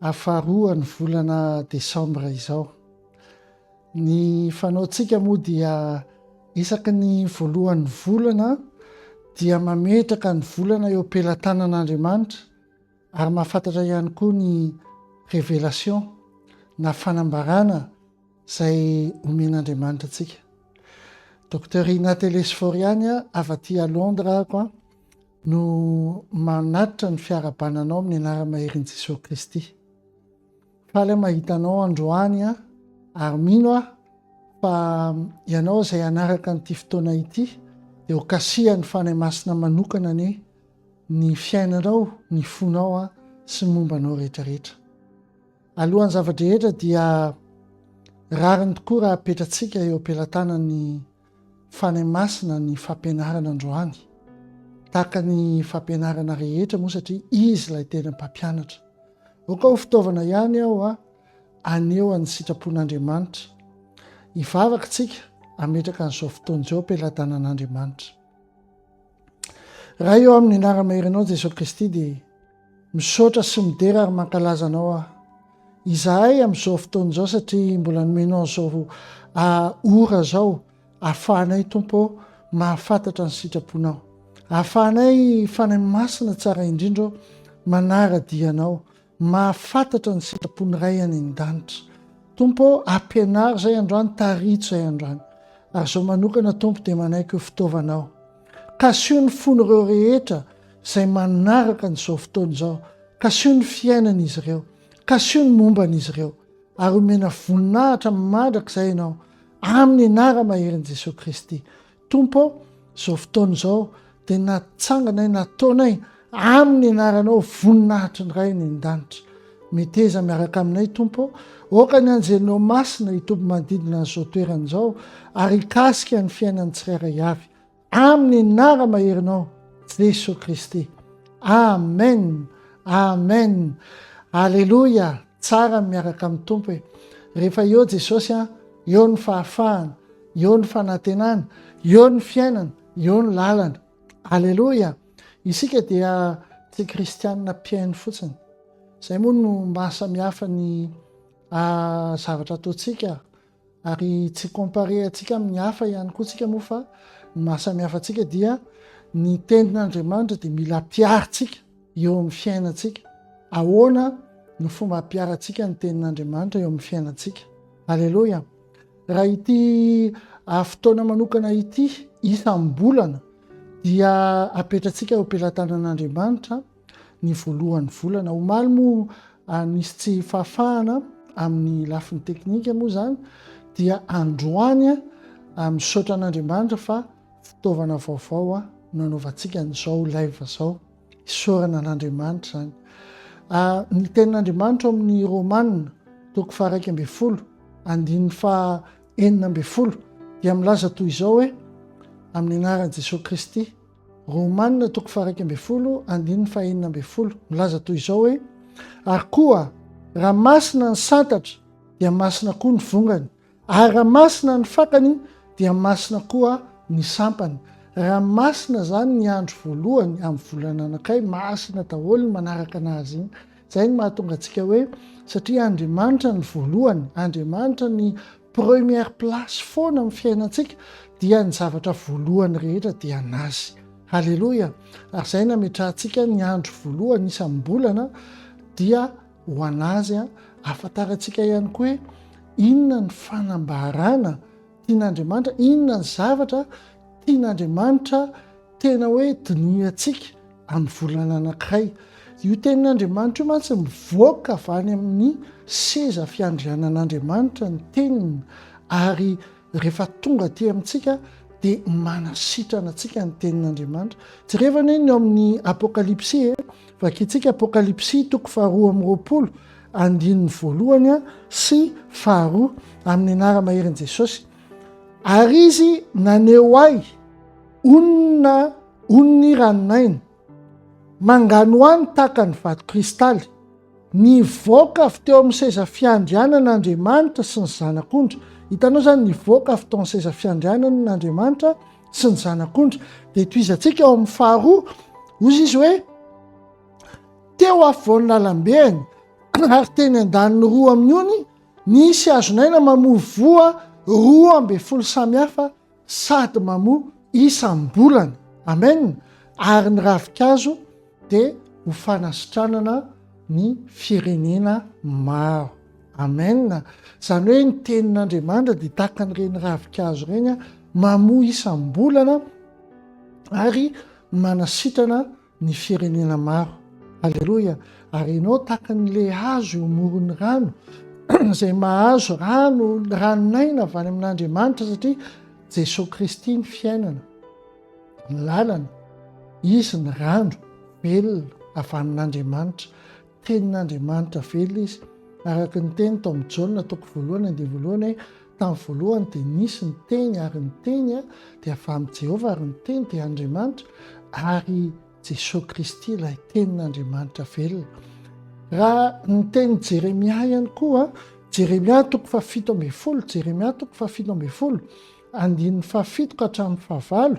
Afaharoa ny volana desambra izao. Ny fanaontsika moa dia isaky ny voalohan'ny volana dia mametraka ny volana eo am-pelatanan'Andriamanitra ary mahafantatra ihany koa ny révélation na fanambarana izay omen'Andriamanitra antsika. Docteur Ina Telesforiani, avy aty à Londres ako. no manatitra ny fiarahabana anao amin'ny anara-maherin' Jesosy Kristy. Faly aho mahita anao androany aho ary mino aho fa ianao izay hanaraka an'ity fotoana ity dia ho kasihan'ny Fanahy Masina manokana anie ny fiainanao, ny fonao a sy momba anao rehetrarehetra. Alohan'ny zava-drehetra dia rariny tokoa raha apetratsika eo am-pelatanan'ny Fanahy Masina ny fampianarana androany, tahaka ny fampianarana rehetra moa satria Izy ilay tena Mpampianatra. Aoka ho fitaovana ihany aho haneho an'ny sitrapon'Andriamanitra. Hivavaka isika hametraka an'izao fotoana izao am-pelatanan'Andriamanitra. Ray ô, amin'ny anara-mahery Anao Jesoa Kristy dia. Misaotra sy midera ary mankalaza anao aho. Izahay amin'izao fotoana izao satria mbola nomenao izao ora izao ahafahanay Tompo ô mahafantatra ny sitraponao. Ahafahanay Fanahy Masina tsara indrindra ô manara-dia anao, mahafantatra ny sitrapon'ny Ray any an-danitra. Tompo ô ampianaro izay androany, tarito izay androany. Ary izao manokana Tompo dia manaiky ho fitaovanao. Kasio ny fon'ireo rehetra izay manaraka an'izao fotoana izao, kasio ny fiainan'izy ireo, kasio ny momba an'izy ireo, ary omena voninahitra mandrakizay Ianao, amin'ny Anara maherin'i Jesoa Kristy. Tompo ô, izao fotoana izao dia natsanganay, nataonay Amin'ny anaranao voninahitr'i ny Ray eny an-danitra. Meteza miaraka aminay Tompo ô. Aoka ny anjelinao masina hitoby manodidina an'izao toerana izao ary hikasika ny fiainan'ny tsirairay avy. Amin'ny anara maherinao Jesoa Kristy. Amen! Amen! Aleloia! Tsara ny miaraka amin'ny Tompo e. Rehefa eo Jesosy an, eo ny fahafahana, eo ny fanantenana, eo ny fiainana, eo ny lalana. Aleloia! Isika dia tsy kristianina mpihaino fotsiny. Izay moa no mahasamihafa ny ah, zavatra ataontsika ary tsy comparer antsika amin'ny hafa ihany koa tsika moa fa ny mahasamihafa antsika dia ny tenin'Andriamanitra dia mila ampiharintsika eo amin'ny fiainantsika. Ahoana no fomba ampiharantsika ny tenin'Andriamanitra eo amin'ny fiainantsika? Aleloia! Raha ity fotoana manokana ity isam-bolana dia apetratsika eo am-pelatanan'Andriamanitra ny voalohan'ny volana. Omaly moa nisy tsy fahafahana amin'ny lafiny teknika moa izany dia androany misaotra an'Andriamanitra fa fitaovana vaovao nanaovantsika an'izao live izao. Isaorana an'Andriamanitra izany. Ny tenin'Andriamanitra ao amin'ny Romana toko faharaika ambin'ny folo andininy faha enina ambin'ny folo dia milaza toy izao hoe amin'ny anaran'i Jesoa Kristy. Romana toko faharaika ambin'ny folo andininy faha enina ambin'ny folo milaza toy izao hoe ary koa raha masina ny santatra dia masina koa ny vongany. Ary raha masina ny fakany dia masina koa ny sampany. Raha masina izany ny andro voalohany amin'ny volana anankiray, masina daholo ny manaraka anazy iny. Izay no mahatonga antsika hoe satria Andriamanitra ny voalohany, Andriamanitra ny première place foana amin'ny fiainantsika dia ny zavatra voalohany rehetra dia anazy. Haleloia! Ary izay nametrahantsika ny andro voalohany isam-bolana dia Ho an'azy, ahafantarantsika ihany koa hoe inona ny fanambarana tian'Andriamanitra, inona ny zavatra tian'Andriamanitra tena hoe dinihantsika amin'ny volana anankiray. Io tenin'Andriamanitra io mantsy mivoaka avy any amin'ny seza fiandrianan'Andriamanitra ny teniny, ary Rehefa tonga aty amintsika dia manasitrana antsika ny tenin'Andriamanitra. Jereo anie ny ao amin'ny Apokalypsy e. Vakintsika Apokalypsy toko faharoa amby roapolo andininy voalohany sy faharoa amin'ny anara maherin'i Jesosy. Ary izy naneho ahy onina oniny ranon'aina Manganohano tahaka ny vato kristaly. Nivoaka avy teo amin'ny seza fiandrianana Andriamanitra sy ny Zanak'ondry. Hitanao izany, nivoaka avy tao amin'ny seza fiandrianana ny Andriamanitra sy ny Zanak'ondry. Dia tohizantsika ao amin'ny faharoa, hoy izy hoe, Teo afovoan'ny lalambeany, ary teny an-daniny roa amin'ny ony, nisy hazon'aina mamoa voa roa ambin'ny folo samihafa sady mamoa isam-bolana. Amen! Ary ny ravinkazo dia ho fanasitranana ny firenena maro. Amen! Izany hoe ny tenin'Andriamanitra dia tahaka an'ireny ravinkazo ireny, mamoa isam-bolana ary manasitrana ny firenena maro. Aleloia! Ary ianao tahaka ny lehihazo eo amoron'ny rano izay mahazo rano, ranon'aina avy any amin'Andriamanitra satria Jesosy Kristy ny fiainana, ny lalana, Izy ny rano velona avy amin'Andriamanitra. Tenin'Andriamanitra velona izy. Araka ny teny tao amin'ny Jaona toko voalohany andininy voalohany hoe, Tamin'ny voalohany dia nisy ny Teny, ary ny Teny dia avy amin'i Jehovah, ary ny Teny dia Andriamanitra, ary i Jesoa Kristy ilay Tenin'Andriamanitra velona. Raha ny tenin'i Jeremia ihany koa, Jeremia toko fahafito ambin'ny folo, Jeremia toko fahafito ambin'ny folo, andininy fahafito ka hatramin'ny fahavalo,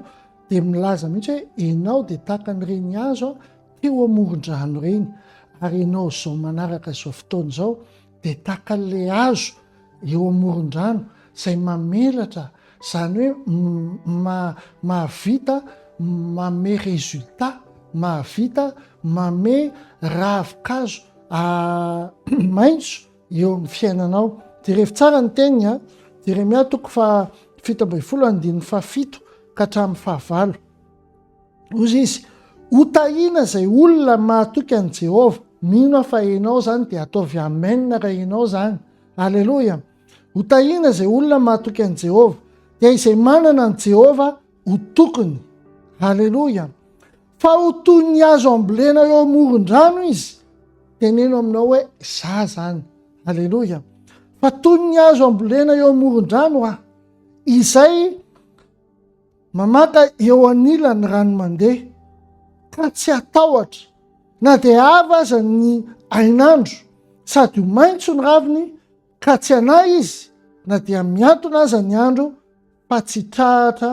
dia milaza mihitsy hoe, Ianao dia tahaka ny renihazo, teo amoron-drano ireny ary ianao izao manaraka izao fotoana izao dia tahaka an'ilay hazo eo amoron-drano izay mamelatra izany hoe mahavita manome résultat, mahavita manome ravin-kazo maitso eo amin'ny fiainanao. Jerevo tsara ny teniny a! Jeremia toko faha fito ambin'ny folo andininy fahafito ka hatramin'ny fahavalo. Hoy izy, Hotahiana izay olona mahatoky an'i Jehovah. Mino aho fa ianao izany, dia ataovy amen raha ianao izany. Aleloia! Hotahiana izay olona mahatoky an'i Jehovah. Dia izay manana an'i Jehovah ho tokony. Aleloia! Fa ho toy ny hazo ambolena eo amoron-drano izy. Teneno aminao hoe, Za zany. Aleloia! Fa toy ny hazo ambolena eo amoron-drano aho. Izay Mamaka eo anilany rano mandeha ka tsy atahotra na dia ava aza ny hainandro sady ho maintso ny raviny ka tsy hanahy izy na dia miantona aza ny andro fa tsy trahatra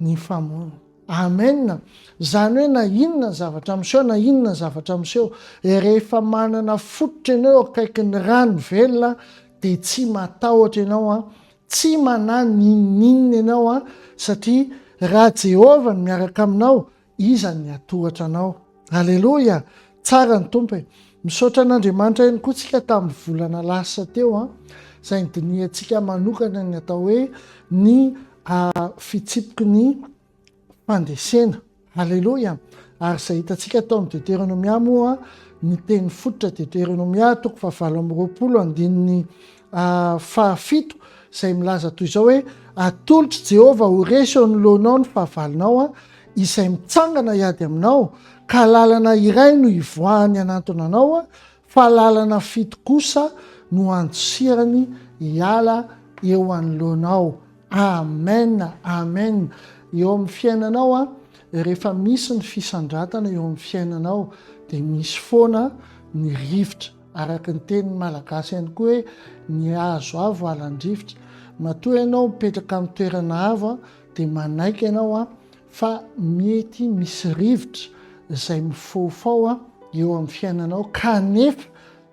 ny famono. Amen! Zany hoe na inona zavatra miseho na inona zavatra miseho dia rehefa manana fototra ianao eo akaikin'ny rano velona dia tsy matahotra ianao an! Tsy manahy n'inon'inona ianao an, satria raha Jehovah no miaraka aminao, iza ny hatohatra anao. Aleloia! Tsara ny Tompo e! Misaotra an'Andriamanitra ihany koa tsika tamin'ny volana lasa teo an, izay nidinihantsika manokana ny atao hoe ny fitsipiky ny fandresena. Haleloia! Ary izay hitantsika tao amin'ny Deteronomia moa, ny teny fototra Deteronomia toko fahavalo amby roapolo andininy fahafito izay milaza toy izao hoe atolotr'i Jehovah ho resy eo anoloanao ny fahavalonao, izay mitsangana hiady aminao, ka lalana iray no hivoahany hanantona anao, Fa lalana fito kosa no andosirany hiala eo anoloanao. Amen Amen eo amin'ny fiainanao an, rehefa misy ny fisandratana eo amin'ny fiainanao dia misy foana ny rivotra, araka ny tenin'ny malagasy ihany koa hoe ny hazo avo halan-drivotra, matoa ianao mipetraka amin'ny toerana avo dia manaiky ianao an, Fa mety misy rivotra izay mifaofao eo amin'ny fiainanao kanefa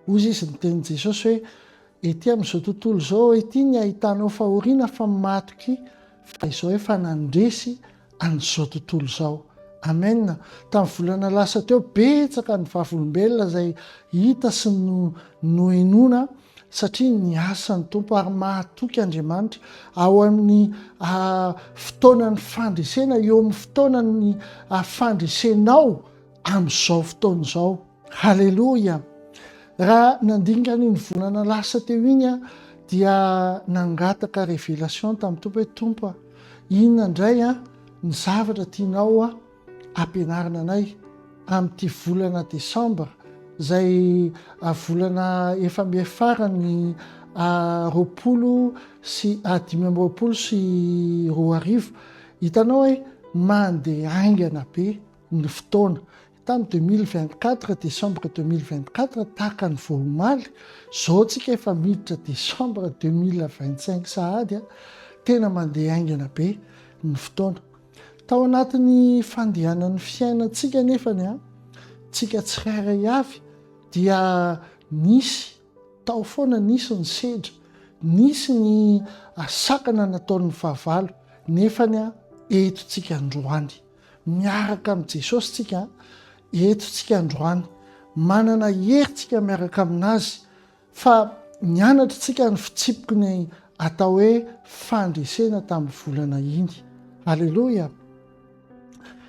hozy izy niteny Jesosy hoe ety amin'izao tontolo izao ety ny ahitanao fahoriana fa matoky fa izao efa nandresy an'izao tontolo izao. Amen! Tamin'ny volana lasa teo betsaka ny vavolombelona izay hita sy nohenoina satria ny asan'ny Tompo ary mahatoky Andriamanitra ao amin'ny fotoanan'ny fandresena eo amin'ny fotoanan'ny fandresenao amin'izao fotoana izao haleloia raha nandinika an'iny volana lasa teo iny a dia nangataka révélation tamin'ny Tompo hoe Tompo a inona indray a ny zavatra tianao a ampianarina anay amin'ity volana desambra izay volana efa mihafarany roapolo sy dimy amby roapolo sy roa arivo hitanao hoe mandeha haingana be ny fotoana tamin'ny 2024 décembre 2024 tahaka ny vao omaly izao tsika efa miditra décembre 2025 sahady a tena mandeha haingana be ny fotoana Tao anatin'ny fandehanan'ny fiainantsika anefa ny antsika tsirairay avy dia nisy tao foana nisy ny sedra, nisy ny sakana nataon'ny fahavalo nefa ny eto tsika androany miaraka amin'i Jesosy tsika eto tsika androany manana hery tsika miaraka amin'azy Fa nianatra tsika ny fitsipiky ny atao hoe fandresena tamin'ny volana iny. Aleloia!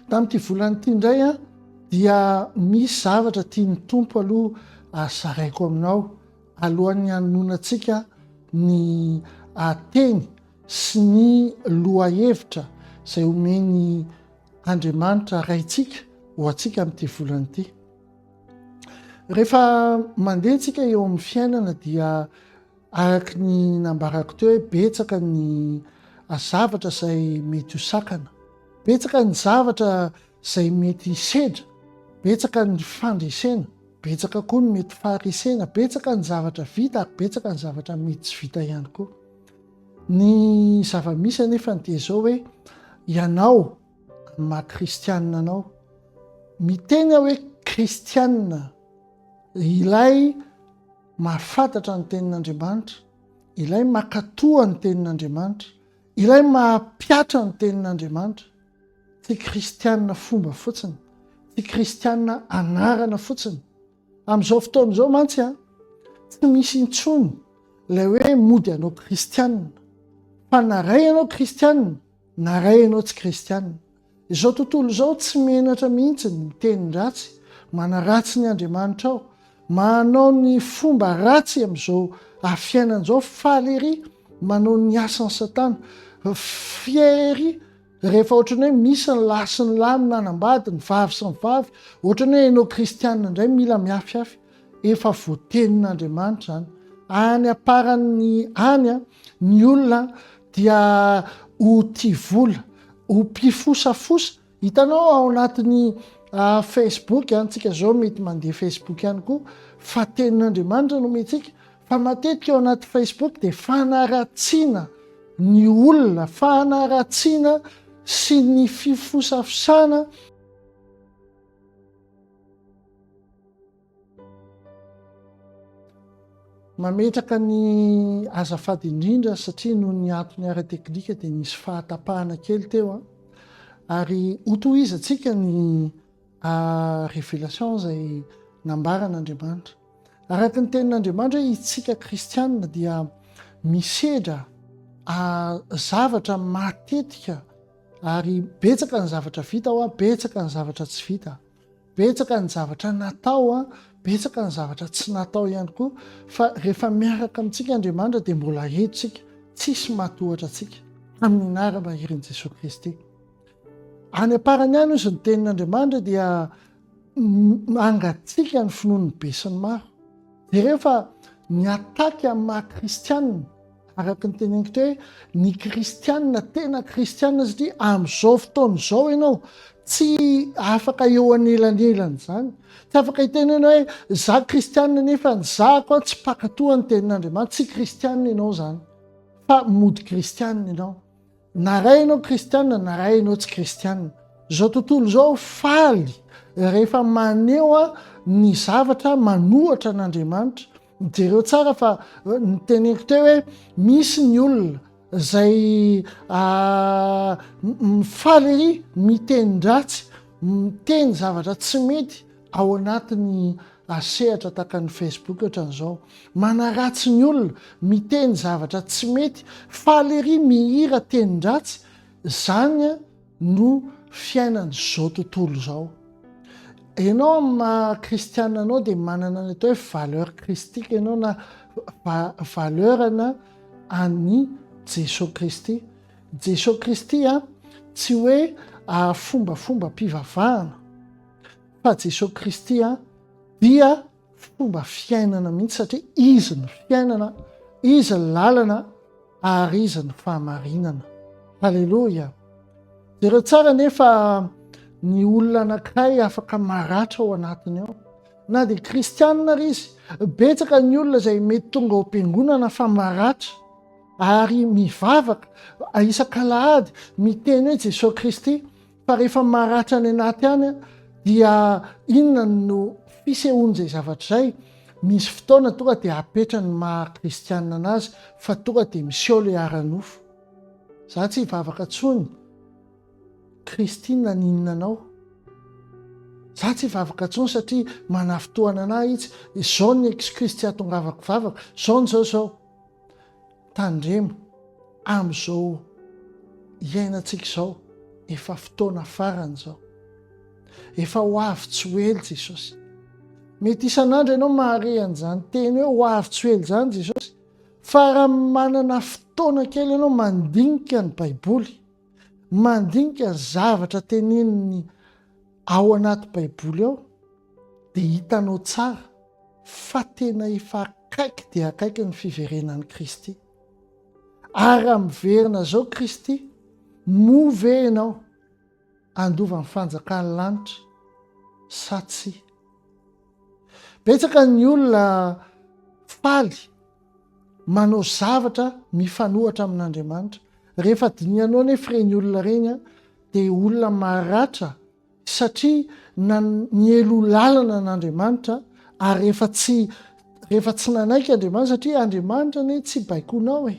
Tamin'ity volana ity indray a, dia misy zavatra tian'ny Tompo aloha azaraiko aminao alohan'ny hanononantsika ny teny sy ny lohahevitra izay omen'ny Andriamanitra Raintsika ho antsika amin'ity volana ity. Rehefa mandeha tsika eo amin'ny fiainana dia araka ny nambarako teo hoe betsaka ny zavatra izay mety ho sakana. Betsaka ny zavatra izay mety hisedra, betsaka ny fandresena, betsaka koa ny mety faharesena, betsaka ny zavatra vita ary betsaka ny zavatra mety tsy vita ihany koa. Ny zava-misy anefa ny dia izao hoe ianao Ny maha kristianina anao. Miteny aho hoe kristianina, ilay mahafantatra ny tenin'Andriamanitra, ilay makatoa ny tenin'Andriamanitra, ilay mahapiatra ny tenin'Andriamanitra. Tsy kristianina fomba fotsiny, tsy kristianina anarana fotsiny. Amin'izao fotoana izao mantsy a, tsy misy intsony ilay hoe mody anao kristianina. Fa na iray ianao kristianina, Na ray ianao tsy kristiana. Izao tontolo izao tsy menatra mihitsy ny mitenin-dratsy, manaratsy ny Andriamanitrao, manao ny fomba ratsy amin'izao afiainana izao, faly ery manao ny asan'i satana, fier ery rehefa ohatrany hoe misy ny lahy sy ny lahy minanam-bady, ny vavy sy ny vavy, ohatrany hoe ianao kristiana indray mila miafyafy. Efa voatenin'Andriamanitra izany. Any am-parany any, ny olona dia ho tia vola, ho mpifosafosa. Hitanao ao anatin'ny Facebook, antsika izao mety mandeha Facebook ihany koa, fa tenin'Andriamanitra no omentsika, fa matetika ao anaty Facebook dia fanaratsiana ny olona, fanaratsiana sy ny fifosafosana. Mametraka ny azafady indrindra satria noho ny antony ara-teknika dia nisy fahatapahana kely teo an. Ary hotohizantsika ny révélation izay nambaran'Andriamanitra. Araka ny tenin'Andriamanitra hoe itsika kristianina dia misedra zavatra matetika ary betsaka ny zavatra vita ao an, betsaka ny zavatra tsy vita. Betsaka ny zavatra natao, betsaka ny zavatra tsy natao ihany koa, fa rehefa miaraka amintsika Andriamanitra dia mbola eto isika, tsisy matohatra antsika, amin'ny anaram-bahirin'i Jesoa Kristy. Any am-parany any ozy ny tenin'Andriamanitra dia mangatsika ny finoan'ny be sy ny maro. Jereo fa ny ataky amin'ny maha-kristianina, Araka ny teneniko teo hoe ny kristianina tena kristianina satria amin'izao fotoana izao ianao tsy afaka eo anelanelan'izany. Tsy afaka hiteny ianao hoe za kristianina nefa ny zako a tsy mpakatoa ny tenin'Andriamanitra, tsy kristianina ianao izany fa mody kristianina ianao. Na ray ianao kristianina na ray ianao tsy kristianina, izao tontolo izao faly rehefa maneho ny zavatra manohatra an'Andriamanitra. Jereo tsara fa ny teneniko teo hoe misy ny olona izay mifaly ery miteny-dratsy, miteny zavatra tsy mety, Ao anatin'ny sehatra tahaka ny Facebook hatran'izao, manaratsy ny olona, miteny zavatra tsy mety, faly ery mihira tenin-dratsy, izany no fiainan'izao tontolo izao. Ianao amin'ny maha kristiana anao dia manana ny atao hoe valeur kristika ianao na valeur-na an'i Jesoa Kristy. Jesoa Kristy tsy hoe fombafombam-pivavahana. fa Jesosy Kristy dia fomba fiainana mihitsy satria izy ny fiainana, izy ny lalana ary izy ny fahamarinana. Haleloia. Jereo tsara nefa ny olona anankiray afaka maratra ao anatiny ao. Na dia kristianina ary izy, betsaka ny olona izay mety tonga ao am-piangonana fa maratra ary mivavaka isak'alahady miteny hoe Jesosy Kristy Fa rehefa maratra any anaty any dia inona no fisehoan'izay zavatra izay? Misy fotoana tonga dia apetra ny maha kristianina anazy fa tonga dia miseho ilay ara-nofo. Za tsy hivavaka tsony. Kristy naninona anao? Za tsy hivavaka tsony satria manafitohana anah itsy. Izao ny excuse tsy atongavako vavaka. Zao ny zao zao. Tandremo amin'izao iainantsika izao, efa fotoana farany izao. Efa ho avy tsy ho ela Jesosy. Mety isan'andro ianao mahare an'izany teny hoe ho avy tsy ho ela izany Jesosy, fa raha manana fotoana kely ianao mandinika ny Baiboly, mandinika ny zavatra tenenin'ny Ao anaty baiboly ao dia hitanao tsara fa tena efa akaiky dia akaiky ny fiverenan'i Kristy. Ary raha miverina izao Kristy, moa ve ianao handova ny fanjakan'ny lanitra sa tsia? Betsaka ny olona faly manao zavatra mifanohatra amin'Andriamanitra. Rehefa dinihanao anefa ireny olona ireny dia olona maratra satria nielo lalana an'Andriamanitra ary rehefa tsy rehefa tsy nanaiky Andriamanitra satria Andriamanitra anie tsy baikonao e.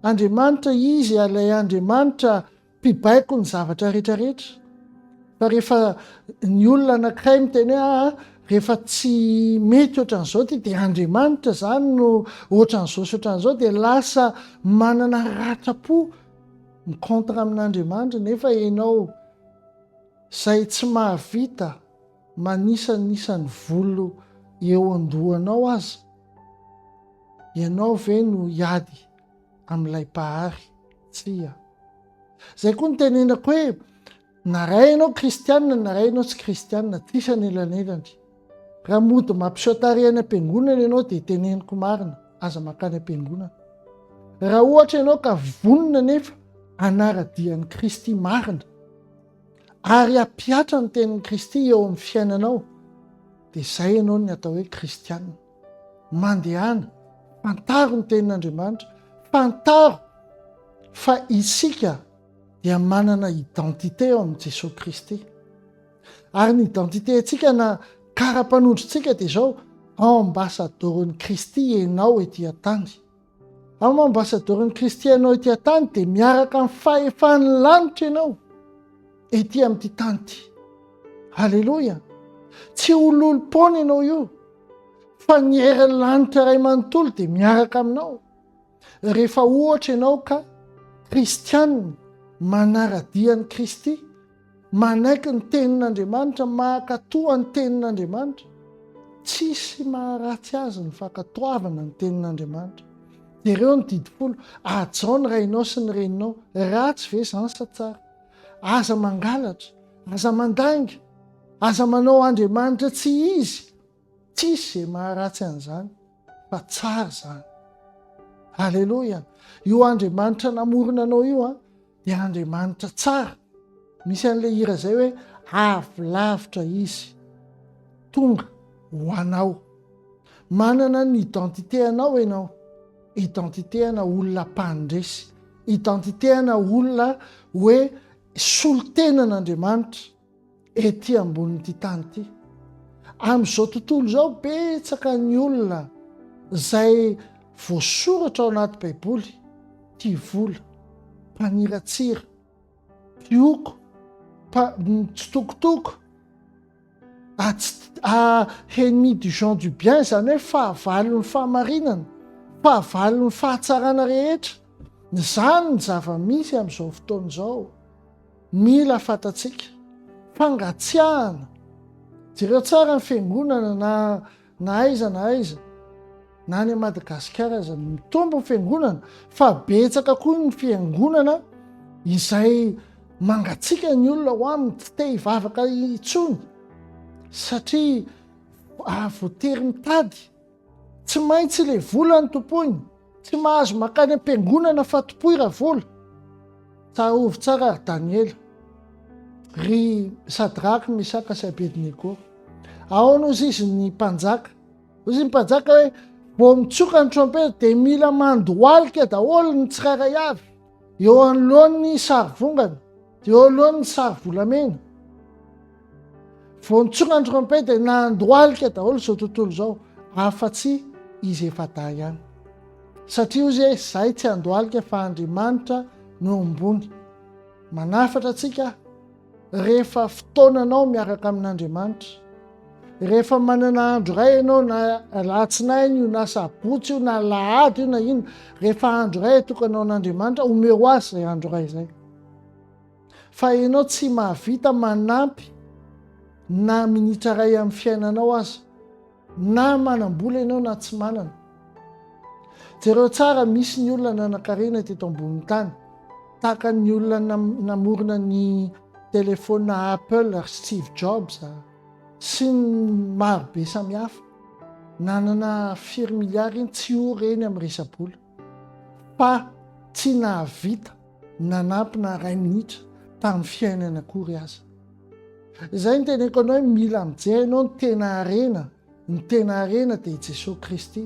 Andriamanitra izy ilay Andriamanitra mpibaiko ny zavatra rehetra rehetra fa rehefa ny olona anankiray miteny hoe aa rehefa tsy mety ohatran'izao ty dia andriamanitra zany no ohatran'izao sy ohatran'izao dia lasa manana ratrapo ny contre amin'andriamanitra nefa ianao zay tsy mahavita manisanisany volo eo andohanao aza ianao ve no hiady amin'ilay Mpahary. Tsia. Izay koa no tenenako hoe na ray ianao kristianina na ray ianao tsy kristianina, tsisy anelanelany. Raha mody mampiseho tarehy any am-piangonana ianao dia teneniko marina, aza mankany am-piangonana. Raha ohatra ianao ka vonona nefa hanara-dia an'i Kristy marina ary hampihatra ny tenin'i Kristy eo amin'ny fiainanao dia izay ianao ny atao hoe kristianina. Mandehana, fantaro ny tenin'Andriamanitra, fantaro fa isika dia manana identité ao amin'i Jesosy Kristy. Ary ny identité-ntsika na kara-panondrontsika dia izao, ambassadeur-n'i Kristy ianao ety an-tany. Am ambasadaorin'i Kristy ianao ety an-tany dia miaraka amin'ny fahefan'ny lanitra ianao ety amin'ity tany ity. Aleloia! Tsy ho lolom-poana ianao io fa ny herin'ny lanitra iray manontolo dia miaraka aminao rehefa ohatra ianao ka kristianina manara-dia an'i Kristy. Manaiky ny tenin'Andriamanitra, mankatoa ny tenin'Andriamanitra. Tsisy maharatsy azy ny fankatoavana ny tenin'Andriamanitra. Jereo ny didy folo, Hajao ny rainao sy ny reninao. Ratsy ve izany sa tsara? Aza mangalatra, aza mandainga, aza manao andriamanitra tsy izy, Tsisy izay maharatsy an'izany fa tsara izany. Aleloia! Io Andriamanitra namorona anao io an, dia Andriamanitra tsara. Misy an'ilay hira izay hoe avy lavitra izy tonga ho anao. Manana ny identité anao ianao, identité ana olona mpandresy, identité ana olona hoe solontenan'Andriamanitra. Ety ambonin'ity tany ity, amin'izao tontolo izao, betsaka ny olona izay voasoratra ao anaty Baiboly tia vola, mpaniratsira, mpioko, mitsitokotoko, ennemi du gens du bien, izany hoe fahavalon'ny fahamarinana, fahavalon'ny fahatsarana rehetra. Izany ny zava-misy amin'izao fotoana izao. Mila fantatsika, fangatsiahana, jereo tsara ny fiangonana na na aiza na aiza, na any Madagasikara aza, mitombo ny fiangonana fa betsaka koa ny fiangonana izay mangatsiaka ny olona ho aminy, tsy te hivavaka intsony satria voatery mitady. Tsy maintsy le vola no tompoina. Tsy mahazo makany am-piangonana fa tompoy ra vola. Tsarovy tsara ry Daniela, ry Sadraka, Mesaka sy Abednego. Ahoana hozy izy ny mpanjaka? Hozy ny mpanjaka hoe, vao mitsoka ny trompetra dia mila mandohalika daholo ny tsirairay avy. Eo anoloany ny sarivongana, dia eo anoloany ny sarivolamena. Vao nitsonga ny trompety dia nandohalika daholo izao tontolo izao, afa-tsy izy efa-dahy ihany. Satria hoy izy hoe izay tsy handohalika fa Andriamanitra no ambony. Manafatra antsika Rehefa fotoananao miaraka amin'Andriamanitra, rehefa manana andro iray ianao na alatsinainy io na sabotsy io na alahady io na inona, rehefa andro iray atokana ho an'Andriamanitra, omeo azy izay andro iray izay. Fa ianao tsy mahavita manampy na minitra iray amin'ny fiainanao aza. Na manam-bola ianao na tsy manana. Jereo tsara, misy ny olona nanan-karena teto ambonin'ny tany, tahaka ny olona namorona ny telefaonina Apple ry Steve Jobs sy ny maro be samihafa. Nanana firy miliara iny tsy ho reny amin'ny resa-bola. Fa tsy nahavita nanampy na iray minitra tamin'ny fiainany akory aza. Izay no teneniko anao hoe mila mijery ianao ny tena harena, ny tena harena dia i Jesoa Kristy,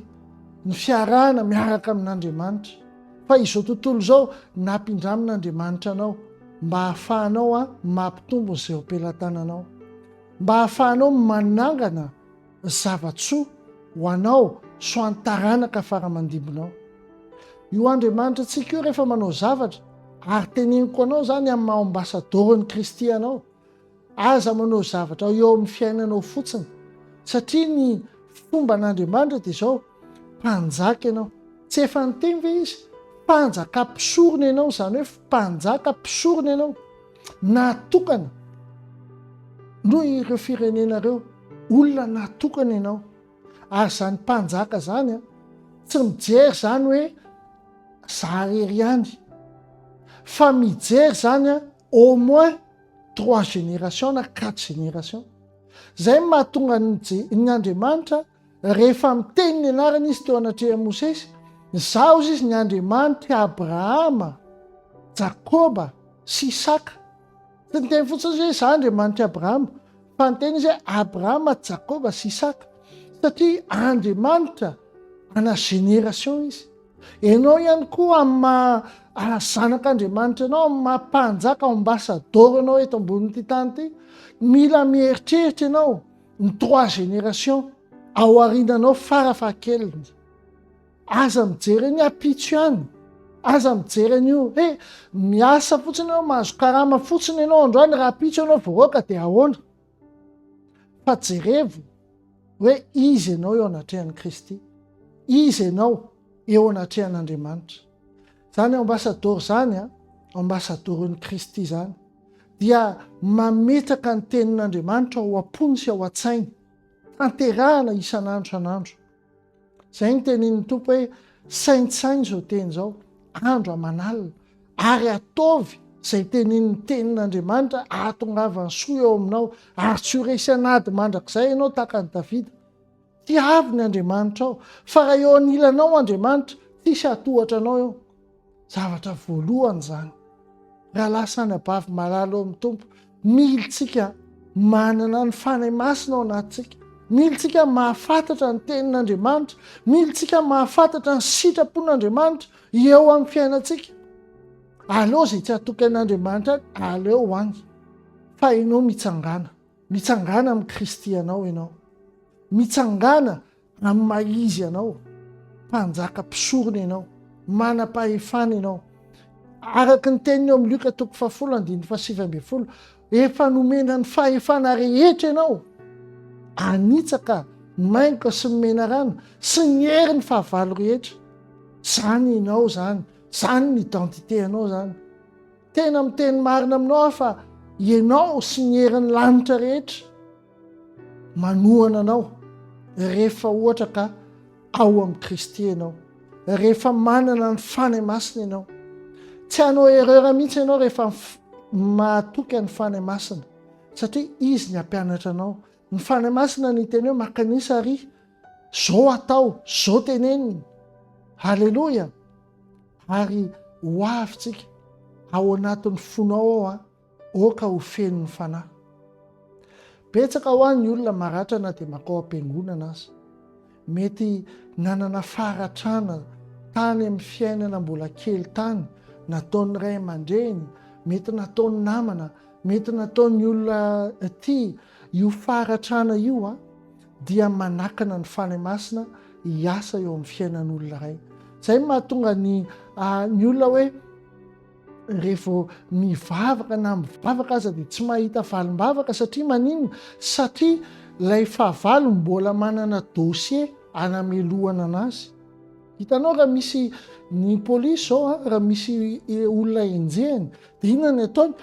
ny fiarahana miaraka amin'Andriamanitra. Fa izao tontolo izao nampindramin'Andriamanitra anao mba hahafahanao mampitombo ny seho-pelatananao, mba hahafahanao manangana Zava-tsoa ho anao sy ho an'ny taranaka fara-mandimbinao. Io Andriamanitra antsika io rehefa manao zavatra, ary teneniko anao izany amin'ny maha ambasadaoron'i Kristy anao, aza manao zavatra eo amin'ny fiainanao fotsiny, satria ny fomban'Andriamanitra dia izao, Mpanjaka ianao. Tsy efa niteny ve izy, mpanjaka mpisorona ianao, izany hoe mpanjaka mpisorona ianao, natokana noho ireo firenena ireo, olona natokana ianao. Ary izany mpanjaka izany, tsy mijery izany hoe za irery ihany, fa mijery izany au moins trois générations na quatre générations. Izay no mahatonga ny Andriamanitra Rehefa miteny ny anarany izy teo anatrehan'i Mosesy, Izaho hozy izy ny Andriamanitr'i Abrahama, Jakoba sy Isaka. Tsy niteny fotsiny izy hoe Izaho Andriamanitr'i Abrahama, fa niteny izy hoe Abrahama, Jakoba sy Isaka, satria Andriamanitra ana génération izy. Ianao ihany koa amin'ny maha zanak'Andriamanitra anao, amin'ny maha mpanjaka ambassador anao eto ambonin'ity tany ity, mila mieritreritra ianao ny trois génération ao arinanao fara fahakeliny aza mijery any apitso ihany aza mijery an'io he miasa fotsiny ianao mahazo karama fotsiny ianao androany raha apitso ianao voaroaka dia ahoana fa jerevo hoe izy ianao eo anatrehan'i kristy izy ianao eo anatrehan'andriamanitra zany ambasadoro zany a ambasadoron'i kristy zany dia mametraka ny tenin'Andriamanitra ao am-pony sy ao an-tsainy, tanterahana isan'andro isan'andro. Izay ny tenin'ny Tompo hoe saintsaino izao teny izao, andro aman'alina, ary ataovy izay tenin'ny tenin'Andriamanitra ahatongavan'ny soa eo aminao, ary tsy ho resy an'ady mandrakizay ianao tahaka an'i Davida. Tiavo ny Andriamanitrao. Fa raha eo anilanao Andriamanitra, tsisy hatohatra anao eo. Zavatra voalohany izany. Raha lasa any abavy malala eo amin'ny Tompo, mily tsika manana ny Fanahy Masina ao anatintsika. Mily tsika mahafantatra ny tenin'Andriamanitra. Mily tsika mahafantatra ny sitrapon'Andriamanitra eo amin'ny fiainantsika. Aleo izay tsy hatoky an'Andriamanitra any, aleo any. Fa ianao mitsangana. Mitsangàna amin'i Kristy ianao ianao. Mitsangàna amin'ny maha-Izy anao. Mpanjaka mpisorona ianao. Manam-pahefana ianao. Araka ny teniny eo amin'ny Lioka toko fahafolo andininy fahasivy ambin'ny folo, efa nomena ny fahefana rehetra ianao. Anitsaka, maingoka sy ny menarana sy ny hery ny fahavalo rehetra. Izany ianao izany. Izany ny identité anao izany. Tena miteny marina aminao aho fa ianao sy ny herin'ny lanitra rehetra manohana anao rehefa ohatra ka ao amin'i Kristy ianao, rehefa manana ny Fanahy Masina ianao. Tsy hanao erreur mihitsy ianao rehefa mahatoky an'ny Fanahy Masina satria izy ny hampianatra anao Ny Fanahy Masina ny teny hoe maka ny isa ary zo atao, zo tenenina. Haleloia! Ary ho avy tsika ao anatin'ny fonao ao an, oka ho fenon'ny Fanahy. Betsaka ho an ny olona maratra na dia makao am-piangonana aza. Mety nanana faharatrana tany amin'ny fiainana mbola kely tany, nataon'ny ray aman-dreny, mety nataon'ny namana, mety nataon'ny olona tia. Io faharatrana io dia manakana ny Fanahy Masina hiasa eo amin'ny fiainan'olona iray. Izay no mahatonga ny olona hoe. Revo mivavaka na mivavaka aza dia tsy mahita valim-bavaka satria maninona? Satria ilay fahavalo mbola manana dossier anamelohana anazy. Hitanao raha misy ny polisy zao raha misy olona enjehiny dia inona ny ataony?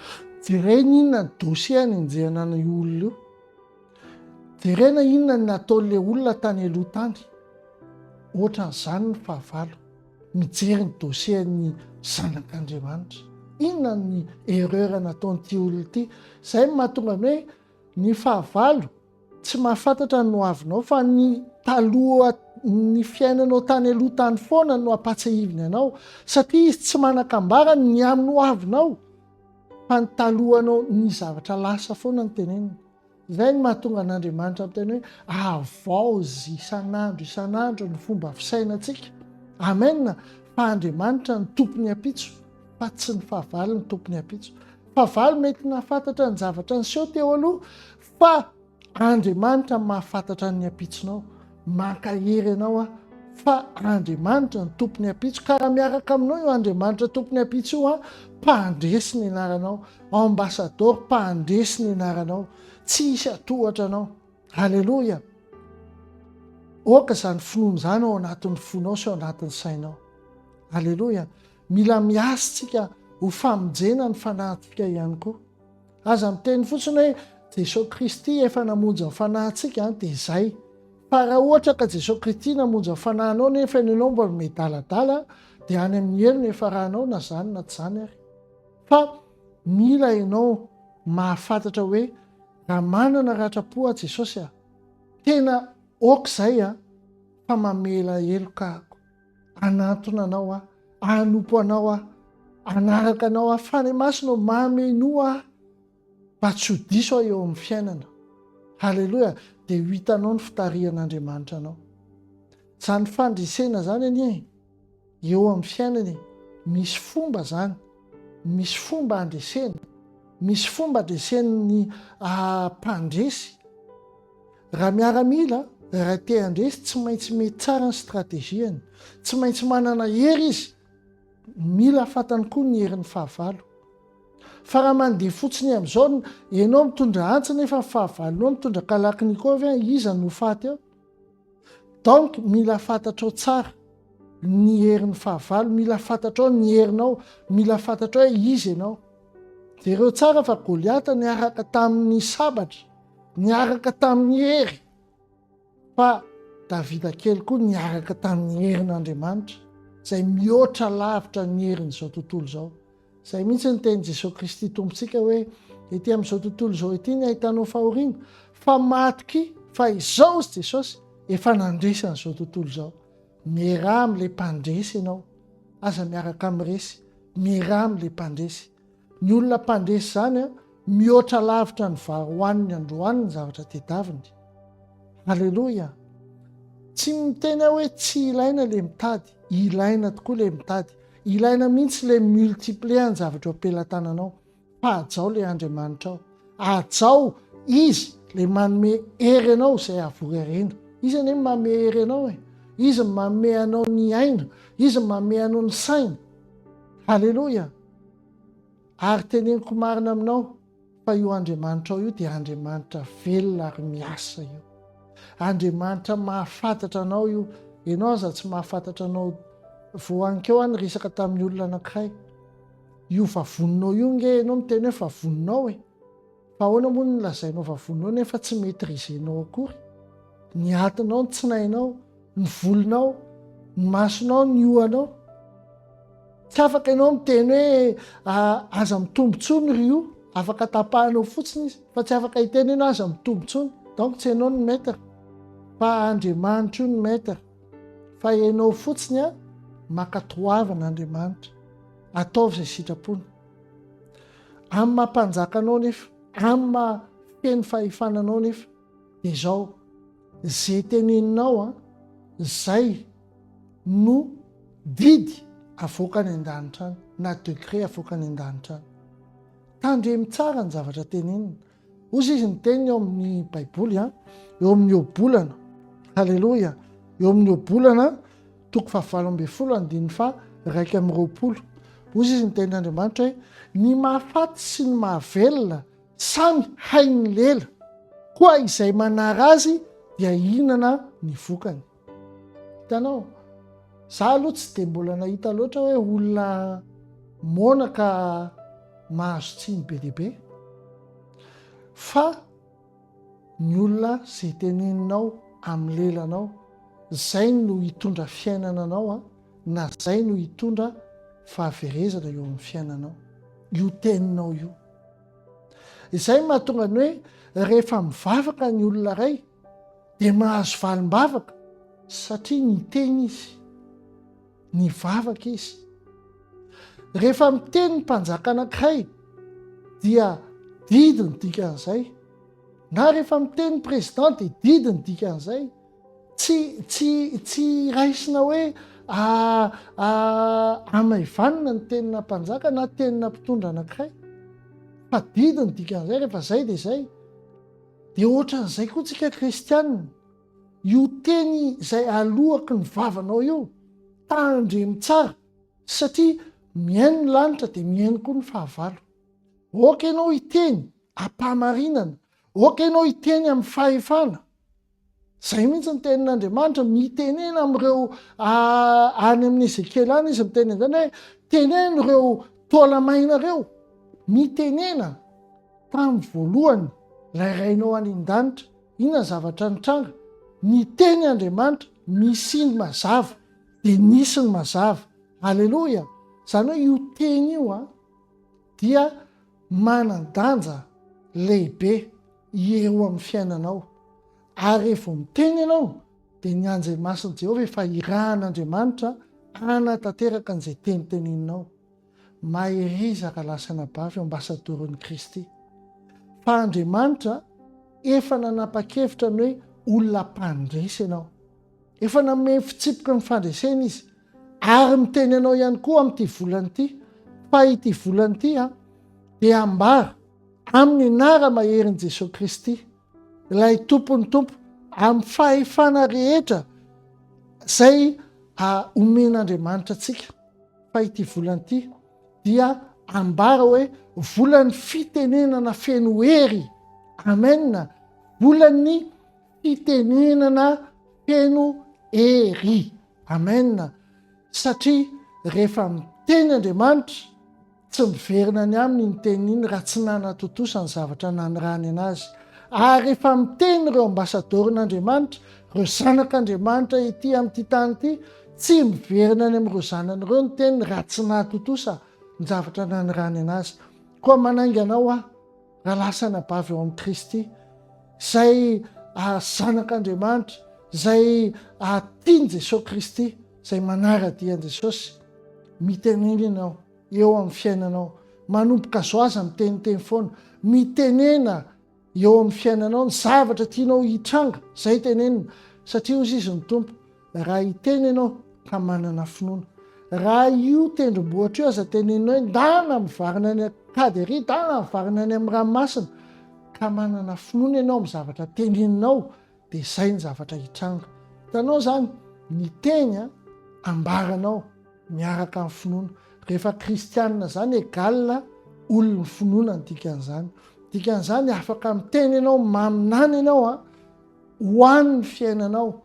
Jereny inona ny dossier any enjehana ana io olona io. Jerena inona ny nataon'ilay olona tany aloha tany. Ohatran'izany ny fahavalo. Mijery ny dossier-n'ny zanak'Andriamanitra. Inona ny erreur nataon'ity olona ity? Izay no mahatonga ny hoe ny fahavalo tsy mahafantatra ny hoavinao fa ny taloha ny fiainanao tany aloha tany foana no ampatsahiviny anao satria izy tsy manakambara ny amin'ny hoavinao fa ny talohanao ny zavatra lasa foana ny teneniny. Izay no mahatonga an'Andriamanitra miteny hoe, Havaozy isan'andro isan'andro ny fomba fisainantsika. Amen! Fa Andriamanitra no tompon'ny ampitso, fa tsy ny fahavalo no tompon'ny ampitso. Fahavalo mety nahafantatra ny zavatra niseho teo aloha, fa Andriamanitra mahafantatra ny ampitsonao. Mankahery anao aho fa Andriamanitra no tompon'ny ampitso ka raha miaraka aminao io Andriamanitra tompon'ny ampitso io aho, mpandresy ny anaranao, ambasadaoro mpandresy ny anaranao, tsy hisy hatohatra anao. Aleloia! Aoka izany finoana izany ao anatin'ny fonao sy ao anatin'ny sainao. Aleloia! Mila miasa tsika ho famonjena ny fanahintsika ihany koa. Aza miteny fotsiny hoe Jesoa Kristy efa namonjy ny fanahintsika an, dia zay. Fa raha ohatra ka Jesoa Kristy namonjy ny fanahinao nefa ianao mbola miadaladala dia any amin'ny helo no ifaranao na zany na tsy zany ary. Fa mila ianao mahafantatra hoe raha manana ratram-po aho Jesosy a, tena ok zay a, fa mamela heloka ako. Hanantona anao aho, hanompo anao aho, hanaraka anao aho. Fanahy masina o, mamenoa aho mba tsy ho diso aho eo amin'ny fiainana. Haleloia, dia ho hitanao ny fitarihan'Andriamanitra anao. Izany fandresena izany anie e, eo amin'ny fiainana e, misy fomba izany, misy fomba andresena, misy fomba andresen'ny ah, mpandresy. Raha miaramila, raha te handresy, tsy maintsy mety tsara ny strategiany. Tsy maintsy manana hery izy. Mila fantany koa ny herin'ny fahavalo. Fa raha mandeha fotsiny amin'izao, ianao mitondra antsy nefa ny fahavalonao mitondra kalaknikov, iza no ho faty eo? Donc mila fantatrao tsara ny herin'ny fahavalo, mila fantatrao ny herinao, mila fantatrao hoe iza ianao. Jereo tsara fa Goliata niaraka tamin'ny sabatra, niaraka tamin'ny hery, fa Davida kely koa niaraka tamin'ny herin'Andriamanitra, izay mihoatra lavitra ny herin'izao tontolo izao. Izay mihitsy ny tenin'i Jesoa Kristy Tompontsika hoe, ety amin'izao tontolo izao ity ny ahitanao fahoriana, fa matokia fa izao izy Jesosy efa nandresy an'izao tontolo izao. Miaraha amin'ilay mpandresy ianao. Aza miaraka amin'ny resy. Miaraha amin'ilay mpandresy. Ny olona mpandresy izany, mihoatra lavitra ny vary hohaniny androany ny zavatra tedaviny. Haleloia! Tsy miteny aho hoe tsy ilaina ilay mitady. Ilaina tokoa ilay mitady. Ilaina mihitsy le multiplier ny zavatra eo am-pelatananao fa hajao le Andriamanitra ao. Hajao Izy le manome hery anao izay havory harena. Izy anie manome hery anao e. Izy manome anao ny aina. Izy manome anao ny saina. Haleloia. Ary teneniko marina aminao. Fa io Andriamanitrao io dia Andriamanitra velona ary miasa io. Andriamanitra mahafantatra anao io. Ianao aza tsy mahafantatra anao. Voankeo aho niresaka tamin'ny olona anankiray. Io vavoninao io nge ianao miteny hoe vavoninao e. Fa ahoana moa ny lazainao vavoninao nefa tsy maîtriser-nao akory. Ny atinao, ny tsinainao. Ny volonao, ny masonao, ny ohanao. Tsy afaka ianao miteny hoe ah, aza mitombo tsony ry o. Afaka tapahanao fotsiny izy. Fa tsy afaka hiteny ianao aza mitombo tsony. Donc tsy ianao ny maître. Fa Andriamanitra io ny maître. Fa ianao fotsiny a, mankatoavina Andriamanitra. Ataovy izay sitrapony. Amin'ny maha mpanjaka anao nefa. Amin'ny maha feno fahefana anao nefa. Dia izao, izay teneninao an, izay no didy avoaka any an-danitra any, na degré avoaka any an-danitra any. Tandremo tsara ny zavatra tenenina. Hozy izy ny teniny eo amin'ny baiboly an, eo amin'ny ohabolana. Haleloia! Eo amin'ny ohabolana, toko fahavalo ambin'ny folo andininy faha iraika amby roapolo. Hozy izy ny tenin'Andriamanitra hoe, ny mahafaty sy ny mahavelona Samy hain'ny lela, koa izay manara azy dia hihinana ny vokany. Hitanao, za aloha tsy dia mbola nahita loatra hoe olona moana ka mahazo tsiny be dia be. Fa ny olona izay teneninao amin'ny lelanao, izay no hitondra fiainana anao a, na izay no hitondra fahaverezana eo amin'ny fiainanao, io teninao io. Izay no mahatonga ny hoe rehefa mivavaka ny olona iray dia mahazo valim-bavaka satria niteny izy, nivavaka izy. Rehefa miteny ny mpanjaka anankiray dia didy ny dikan'izay, na rehefa miteny ny président dia didy ny dikan'izay. Tsy, tsy, tsy raisina hoe a, a, amaivanina ny tenina mpanjaka na tenina mpitondra anankiray. Fa didy ny dikan'izay, rehefa izay dia izay. Dia ohatran'izay koa tsika kristianina. Io teny izay aloaky ny vavanao io, tandremo tsara, satria mihaino ny lanitra dia mihaino koa ny fahavalo. Oka ianao hiteny am-pahamarinana, oka ianao hiteny amin'ny fahefana, Izay mihitsy ny tenin'Andriamanitra, mitenena amin'ireo any amin'ny Ezekiela any izy miteny an'izany hoe teneno ireo taolamaina ireo, mitenena tamin'ny voalohany ilay rainao any an-danitra, inona zavatra nitranga? Niteny Andriamanitra, misy ny mazava, dia nisy ny mazava. Aleloia! Izany hoe io teny io a, dia manan-danja lehibe. eo amin'ny fiainanao. Ary rehefa vao miteny ianao, dia ny anjely masin'i Jehovah efa irahan'Andriamanitra hanatanteraka an'izay teny teneninao. Mahereza rahalahy sy anabavy ambassadoron'i Kristy. Fa Andriamanitra efa nanapa-kevitra ny hoe olona mpandresy ianao. Efa nanome fitsipika ny fandresena izy. Ary miteny anao ihany koa amin'ity volana ity fa ity volana ity a dia ambara amin'ny nara maherin'i Jesoa Kristy ilay tompon'ny tompo amin'ny fahefana rehetra izay omen'Andriamanitra antsika fa ity volana ity dia ambara hoe volan'ny fitenenana feno hery amena volan'ny fitenenana feno hery Amen satria rehefa miteny Andriamanitra tsy miverina any aminy iny teniny iny raha tsy nanatontosa ny zavatra nanirahany anazy ary efa miteny ireo ambasadaorin'Andriamanitra ireo zanak'Andriamanitra ity amin'ity tany ity tsy miverina any amin'ireo zanany ireo ny teniny raha tsy nahatontosa ny zavatra nanirahany anazy koa manainga anao aho Raha lasa anabavy ao amin'i Kristy, izay zanak'Andriamanitra, izay tian'i Jesosy Kristy, izay manara-dia an'i Jesosy, mitenena ianao eo amin'ny fiainanao. Manomboka zao aza miteniteny foana. Mitenena eo amin'ny fiainanao ny zavatra tianao hitranga, izay tenenina. Satria hoy izy ny Tompo, Raha hiteny ianao ka manana finoana, raha io tendrombohitra io aza teneninao hoe ndana mivarina any an-kady ery, ndana mivarina any amin'ny ranomasina, ka manana finoana ianao amin'ny zavatra teneninao, dia izay ny zavatra hitranga. Hitanao izany? Ny teny ambaranao miaraka amin'ny finoana. Rehefa kristianina izany, égale olon'ny finoana ny dikan'izany. Dikan'izany afaka miteny ianao, maminany ianao ho an'ny fiainanao,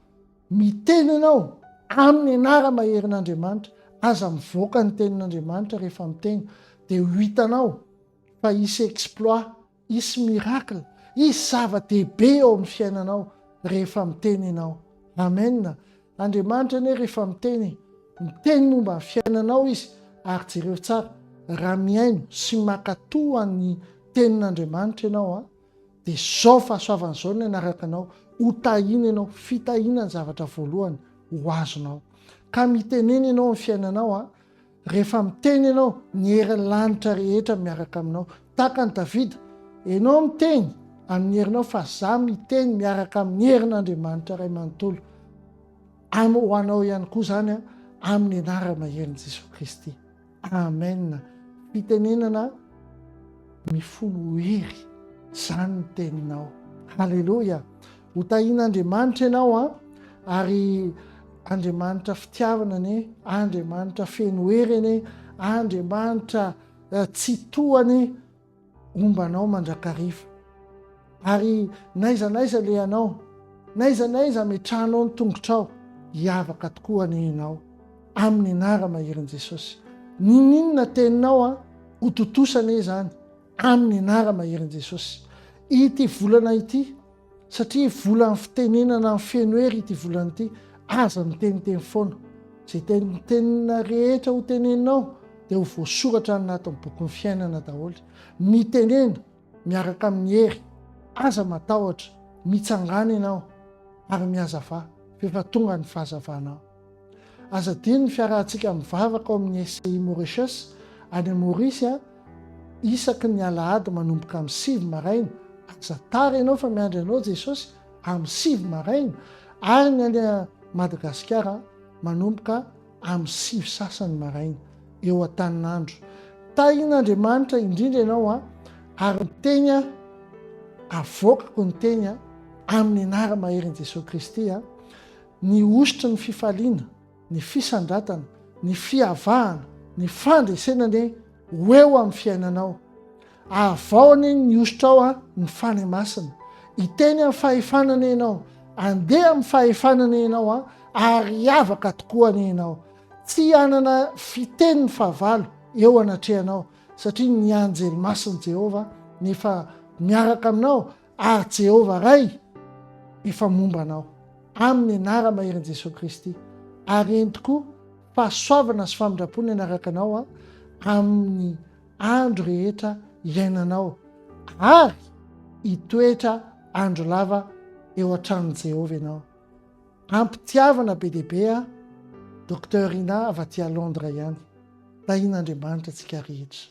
Miteny ianao amin'ny anara-maherin'Andriamanitra, aza mivoaka ny tenin'Andriamanitra rehefa miteny dia ho hitanao fa hisy exploit, hisy miracle, hisy zava-dehibe eo amin'ny fiainanao rehefa miteny ianao. Amen! Andriamanitra anie rehefa miteny, miteny momba ny fiainanao Izy, ary jereo tsara, raha mihaino sy mankatò an'ny tenin'Andriamanitra ianao an, Dia izao fahasoavana izao no hanaraka anao, hotahina ianao, fitahiana ny zavatra voalohany ho azonao. Ka mitenena ianao amin'ny fiainanao, rehefa miteny ianao, ny herin'ny lanitra rehetra miaraka aminao. Tahaka an'i Davida, ianao miteny amin'ny herinao fa za miteny miaraka amin'ny herin'Andriamanitra Ray manontolo. Am ho anao ihany koa izany amin'ny anara-maherin'i Jesoa Kristy. Amen fitenenana mifono hery zany ny teninao. Haleloia! Ho tahin'Andriamanitra ianao an! Ary Andriamanitra fitiavana anie, Andriamanitra feno hery anie, Andriamanitra eh, tsy tohany Homba anao mandrakariva. Ary n'aiza n'aiza alehanao, n'aiza n'aiza ametrahanao ny tongotrao, hiavaka tokoa anie ianao, amin'ny anara maherin' Jesosy. Ninoninona teninao an, ho tontosa anie izany, amin'ny anara maherin' Jesosy. Ity volana ity. Satria volan'ny fitenenana amin'ny feno hery ity volana ity, aza miteniteny foana. Izay tenitenina rehetra ho teneninao dia ho voasoratra any anatin'ny bokin'ny fiainana daholo. Mitenena miaraka amin'ny hery, aza matahotra, mitsangana ianao ary mihazava, f'efa tonga ny fahazavanao. Aza adino ny fiarahantsika mivavaka ao amin'ny SCI Mauritius any Maorisy isaky ny alahady manomboka amin'ny sivy maraina. Aza tara ianao fa miandry anao Jesosy amin'ny sivy maraina ary ny any Madagasikara manomboka amin'ny sivy sasany maraina eo Antaninandro. Tahin'Andriamanitra indrindra ianao ary ny teny avoakako ny teny amin'ny anara-maherin'i Jesosy Kristy. Ny hosotry ny fifaliana, ny fisandratana, ny fiavahana, ny fandresena anie ho eo amin'ny fiainanao. Avaho anie ny hosotrao an ny Fanahy Masina. Hiteny amin'ny fahefana anie ianao. Andeha amin'ny fahefana anie ianao an, ary hiavaka tokoa anie ianao. Tsy hanana fiteny ny fahavalo eo anatrehanao, satria ny anjely masin'i Jehovah no efa miaraka aminao Ary Jehovah Ray efa momba anao, amin'ny anara-maherin' Jesoa Kristy, ary entiko fahasoavana sy famindrampony hanaraka anao amin'ny andro rehetra iainanao, ary hitoetra andro lava eo an-tranon'i Jehovah ianao. Am-pitiavana be dia be an, Docteur Ina avy aty à Londres ihany. Tahian'Andriamanitra antsika rehetra.